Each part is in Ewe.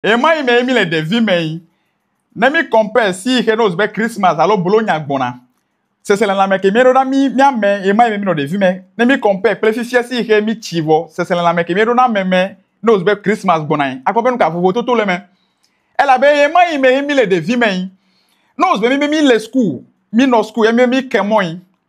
Ɣemaɣi mee míle ɖevimee. Ne mí compare si xe ne wòzu be Christmas alo Bologna gbɔna, seselelãme ke míeɖona mí míame ɣemaɣi me mínɔ ɖevime. Ne mí compare kple fifia si xe mítsi vɔ seselelãme ke míeɖona ame me ne wòzu be Christmas gbɔnae, akpɔ be nuka vovototo le eme. Elabe ɣemaɣi mee míle ɖevimee. Ne wòzu be míbe míle school, mínɔ school ye míbe míke mɔe,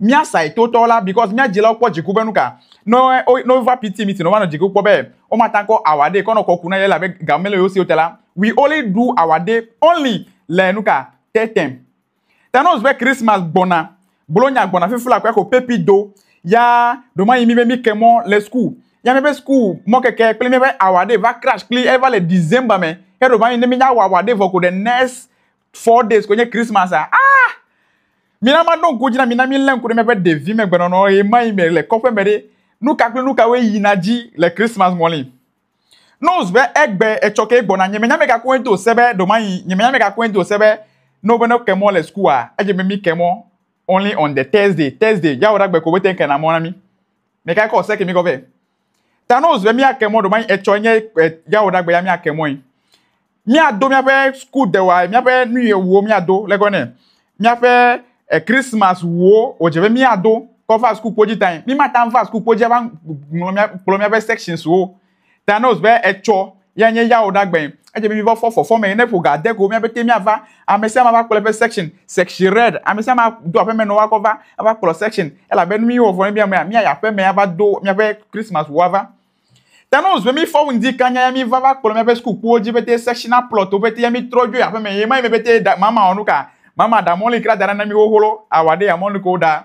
Míasae totɔ la because mía dzilawo kpɔ dziku be nuka ne wova PT meeting wova nɔ dziku kpɔ be womatakɔ our day kɔ nɔ kɔku na ye elabe ga mele yewo si ote la we only do our day only le nuka te tem ta nose be Christmas gbɔna bolo nya gbɔna fifi la kɔɛxo pepi do ya ɖoma yi mi be mi kemɔ le school ya mi be school mɔ keke kple mi be our day va crash kpli eva le December me ya ɖoma yi ne mi nya our day vɔ ko ɖe next four days koe nye christmas a ah mina maɖo ŋku dzi na mina milé ŋku ɖe míaƒe ɖevi me gbenɔnɔ ɣemaɣi me le kɔƒe me ɖe nu ka kple nu kawoe yina dzi le christmas ŋɔli nose be egbe etsɔ ke gbɔna nye menya meka koe do se be ɖomayi nye menya meka koe do se be no be ne ke mɔ le school a edze be mi ke mɔ only on the thursday thursday yawo ɖagbe ko be te ke na mɔ na mi meka kɔ se ke mi kɔ be Ta ne wòzu be míake mɔ ɖomai etsɔe nye yawoɖagbe ya míake mɔe. Míado míaƒe skudewa, míaƒe nuyewuwo míado le gɔnɛ. Míaƒe Christmas wuwo wòdze be míado kɔ va sukukpo dzi tae. Mímata va sukukpo dzi ava ŋlɔ mía, kplɔ míaƒe sections wo. Ta ne wòzu be etsɔ ya nye yawo ɖagbɛɛ. Edze mí mivɔ fɔ fɔfɔ me ne ƒo ga de go mía bete míava. Ame sia ame ava kplɔ eƒe section, section red. Ame sia ame ado aƒe me nɔ woakɔ va ava kplɔ section elabe nu míwɔ vɔ ne mía mea, míayi aƒe me ava do míaƒe Christmas ŋua va. Ta ne wozɔe mí fɔ ŋdi kanya ya míva va kplɔ míaƒe sukukpowo dzi bete sectional plot wo bete ya mí trɔ dzoe aƒe me ye ma yi me bete ɖa mama wɔ nu ka? Mama ɖa mɔli kra da ɖa na mí xoxo lɔ, awa ɖe ya mɔli ko ɖa.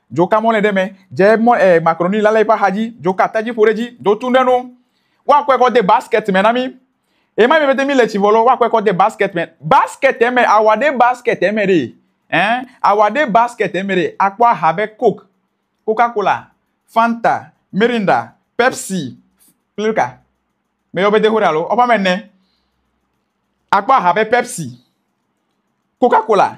Dzo ka mɔlɛ ɖe mɛ, dze mɔ ɛ makroni lale eƒe axadzi, dzo ka tadzi ƒo ɖe edzi, dzo tun ɖe enu. Woakɔe kɔ de basket me na mí. Ɣemaɣi me pɛtɛ míle tsi vɔ lɔ, woakɔe kɔ de basket me. Basket me, awa ɖe basket me ɖe, ɛ, awa ɖe basket me ɖe, akpɔ aha be coke, coca cola, fanta, mirinda, pepsi, kple nuka me yɔ be de ho ɖe alo woƒe ame ene. Akpɔ aha be pepsi, coca cola.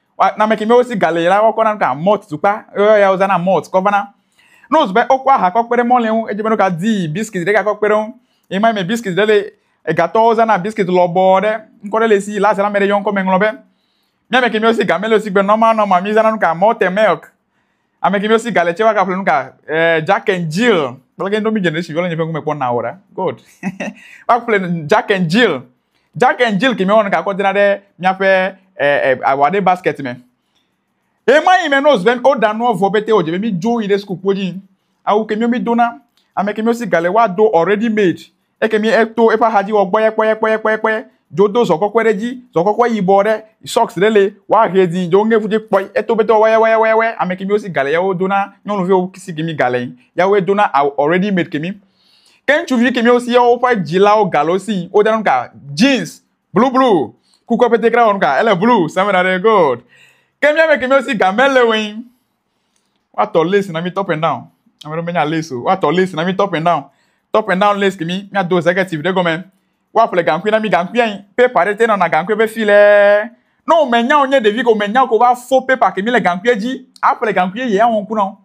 Wa- Name keme wosi galɛ la, woakɔ na nu ka? Malt tukpa. Eo ya wozã na malt kɔ vana. Ne wòzu be wokɔ aha kɔ kpe ɖe mɔlɛ ŋu, edze be nu ka dii? Biskit ɖe gakɔ kpe ɖe eŋu. Yi ma yi me biskit ɖe le. Egatɔwo zã na biskit lɔbɔ ɖe. Ŋkɔ ɖe le esi. Le asia me ɖe yɔ ŋkɔ me ŋlɔ be. Mía me kemiwo si game le wosi gbe nɔma nɔma. Mizã na nu ka? Malted milk. Ame kemi osi gale tse waka ƒle nuka eh, Jack and Jill kple ke ndomi generation viole nye ƒe ŋkume kpɔ na wora good waka ƒle Jack and Jill Jack and Jill kemi wɔnu ka kɔ dena ɖe miaƒe eh, eh, awa ɖe basket me ema yi me no zven o da nuɔ vɔ bete o dze be mi dzo yi ɖe sukukpo dzi awu kemi mi dona ame kemi osi gale wa do already made ekemi eto eƒe axadzi wɔ kpɔyɛkpɔyɛkpɔyɛkpɔyɛ dzo do zɔ kɔkɔe ɖe dzi zɔ kɔkɔe yibɔ ɖe sɔks ɖe le woahe dzi dzo ŋge ƒudze kpɔi eto bete wɔyɛwɔyɛwɔyɛ ame kemi wosi gale yawo dona nyɔnuviwo si kemi gale yawoe dona awu already made kemi ke ŋutsuvi kemi wosi yawo ƒe dzilawo gale wo si wodana nu ka jeans blu blu kukua pete kra wɔ nu ka ele blu sɛmɛ ɖa ɖe gold ke miame kemi wosi game le woe Woatɔ lace na mí top and down. Ame ɖewo menya lace o. Woatɔ lace na mí top and down. Top and down lace kimi míado executive ɖe gɔme. Woaƒle gaŋkui na mí gaŋkui anyi. Paper ɖe te nɔna gaŋkui ƒe file. Ne womenya wò nye ɖevi ko menya wò ko va fo paper kimi le gaŋkui dzi aƒle gaŋkui yeye awɔ ŋku na wò.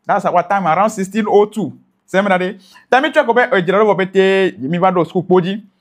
That's our time around 1602. Seminary. Ta mí trɔe kpɔ be edzra ɖo vɔ betɛ mí va ɖo suku kpo dzi.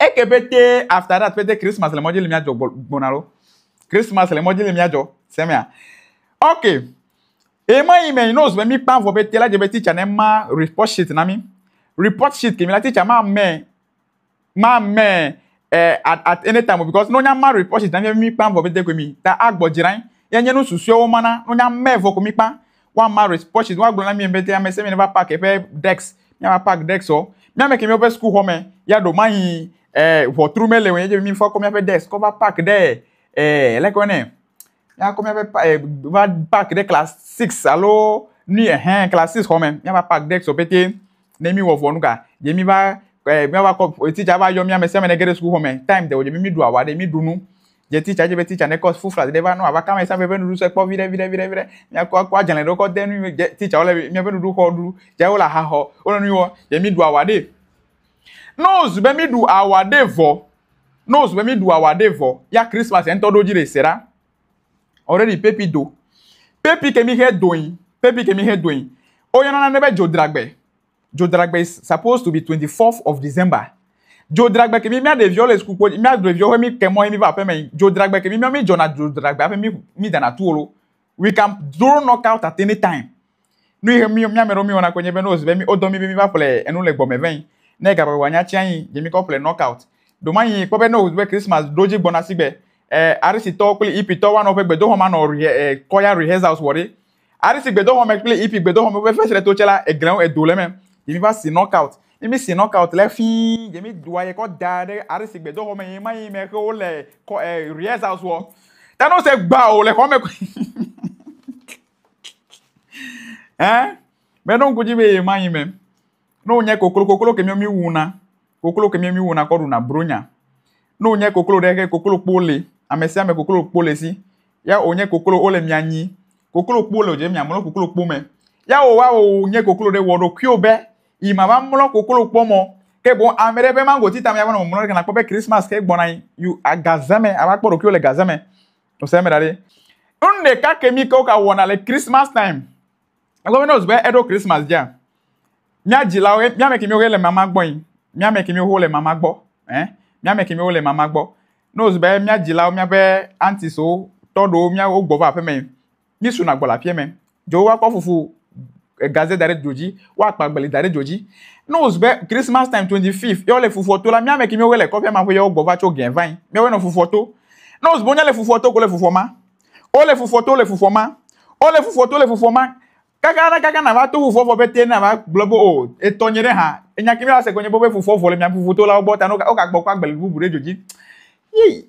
Eke pete after that pete Christmas le mɔdzi le mia jɔ gbɔna lo. Christmas le mɔdzi le mia jɔ. Semea. Okay. Ema yi me knows be mi kpa vɔ pete la je be teacher ne ma report sheet na mi. Report sheet ke mi la teacher ma me ma me eh, at, at any time because no nya ma report sheet na mi mi kpa vɔ pete ko mi ta agbɔ dzrain. Ya nye no susuewo mana no nya me vɔ ko mi kpa. woama responses woagblɔ na mi be te ame se mi va park eƒe dex miava park dex o míame ke míaƒe sukuxɔ me ya ɖo mayi eh, ʋɔtru mele o yedze mi fa kɔ míaƒe dex kɔ va park ɖe eh, leke wɔnɛ míakɔ míaƒe eh, va park ɖe class six alo nui ehɛn class six xɔ me míava park dex o pete Ne míwɔ vɔ nu ka? Dze míva eh, míava kɔ eh, titsa va yɔ mí ame sia ame ne ge ɖe sukuxɔ me. Time de o dze mí míɖu awa ɖe míɖu nu. Dze titsa dze be titsa ne kɔ fufla ɖe va nɔ ava kama esa veve nuɖuɖu se kpɔ viɖe viɖe viɖe viɖe. Míakɔ akɔ adzalẽ ɖe kɔ de nu dze titsa wole míaƒe nuɖuɖu xɔ ɖu. Dze wole aha xɔ wole nu wɔ dze míɖu awa ɖe. Ne wozu be míɖu awa ɖe vɔ, ne wozu be míɖu awa ɖe vɔ ya Christmas ŋutɔ ɖo dzi ɖe se ɖa. Already pepi do. Pepi ke mi xe doin. Pepi ke mi xe doin. Woyɔna nane be dzodragbe. Dzodragbe is supposed to be 24th of December. Dzodragbe ke mi mía ɖeviwo le suku kpo dzi. Mía ɖeviwo ƒe mi ke mɔ ye mi va aƒeme. Dzodragbe ke mi mía mi dzɔna dzodragbe hafi mi mi dana tuwo lo. We can throw knockout at any time. Nu yi mi ame ɖewo mi wɔna koe nye be ne wozi be mi wodɔ mi be mi va ƒle enu le gbɔme vɛin ne ga ƒe nya tsiã yi dzi mi kɔ ƒle knock out ɖo ma yi kpɔ be ne wozi be christmas ɖo dzi gbɔna si gbe e arisi tɔwo kple ipi tɔwo anɔ woƒe gbedoxɔ ma nɔ re e kɔya rehearsals wɔ ɖe arisi gbedoxɔ me kple ipi gbedoxɔ me woƒe fesre to tse la eglewo edo le eme yi mi va si knock out ne mi si knock out le fii yi mi doa yi kɔ da ɖe arisi gbedoxɔ me yi ma yi me xe wo le kɔ e rehearsals wɔ ta ne wose gba o le xɔ me Hein? Mais ɖo ŋku dzi be yema yi mɛ. Ne wònye koklo, koklo ke mìɔ mìwuna. Koklo ke mìɔ mìwuna kɔ ɖuna bronya. Ne wònye koklo ɖe ke koklokpo le. Amesiame koklokpo le si. Ya wònye koklo wole mìa nyi. Koklokpo le wodze be mìamlɔ koklokpo mɛ. Ya wòwa wònye koklo ɖe, wɔ ɖokuiwò be yi mava mlɔ koklokpoɔ mɛ o. Ke boŋ ame ɖe ƒe maŋgoti ta mea va nɔ mɔmlɔ ɖe ke nakpɔ be Christmas ke gbɔna anyi. You, agaze mɛ, ava kpɔ ɖokuiwò le gaze mɛ. Ose me da ɖi. Nu ɖeka ke mi ke woka wɔna le Christmas time. Egɔme nɔ zbe eɖo Christmas dzi. Mia dzilawo, mia me ke mi wo le mama gbɔ yi. Mia me ke mi wo le mama gbɔ. Eh? Mia me ke mi wo le mama gbɔ. Nɔ zbe mia dzilawo, mia be aunties wo, tɔɖo mia wo gbɔ va aƒe me. mí suna gbɔ le aƒea me. Dzo wa kɔ fufu gaze da ɖe dzo dzi, wa kpa gbeli da ɖe dzo dzi. Ne wo zu be Christmas time 25 yɔ le fufua to la, mía me ki mí wo le kɔƒea ma ƒe yɔ gbɔ va tso gɛn vain. Mía wo nɔ fufua to. Ne wo zu be wo nya le fufua to ko le fufua ma. O le fufua to le fufua ma. O le fufua to le fufua ma. Kaka na kaka na va to fufua vɔ be te na va gblɔ be o etɔ nye ɖe ha. Enya ki mí va se ko nye be fufua vɔ le mía fufua to la wo gbɔ ta no ka o ka gbɔ kpa gbeli bubu ɖe dzo dzi. Yii.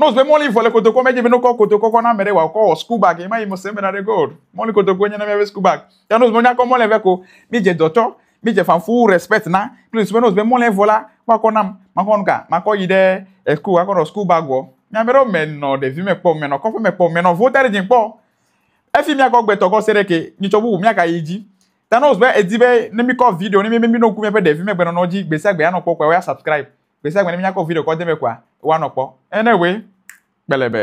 Nose be mɔli vɔ le kotokɔ me dzi be nokɔ kotokɔ kɔ na ame ɖe wòakɔ wɔ school bag yi ma yi mose me na ɖe gold mɔli kotokɔ nye na míaƒe school bag ya nose be nyakɔ mɔli vɛ ko mi dze dɔtɔ mi dze fanfu respect na kple nose be nose be mɔli vɔ la woakɔ nam makɔ nu ka makɔ yi ɖe eh, school akɔ nɔ school bag wɔ míame ɖewo menɔ ɖevi me kpɔ menɔ kɔƒe me kpɔ menɔ vota ɖe dzi kpɔ efi míakɔ gbetɔ kɔ se ɖe ke nyitsɔ bubu míaka yi dzi ta nose be edi be ne mikɔ video ne mi be mi no ku míaƒe ɖevi me gbenɔnɔ dzi gbesia gbe anɔ kpɔ kpɔ ya subscribe Gbèsè gbɛnɛ míakɔ video kɔ deme kua, wa nɔ kpɔ. Ene we, kpɛlɛbɛ.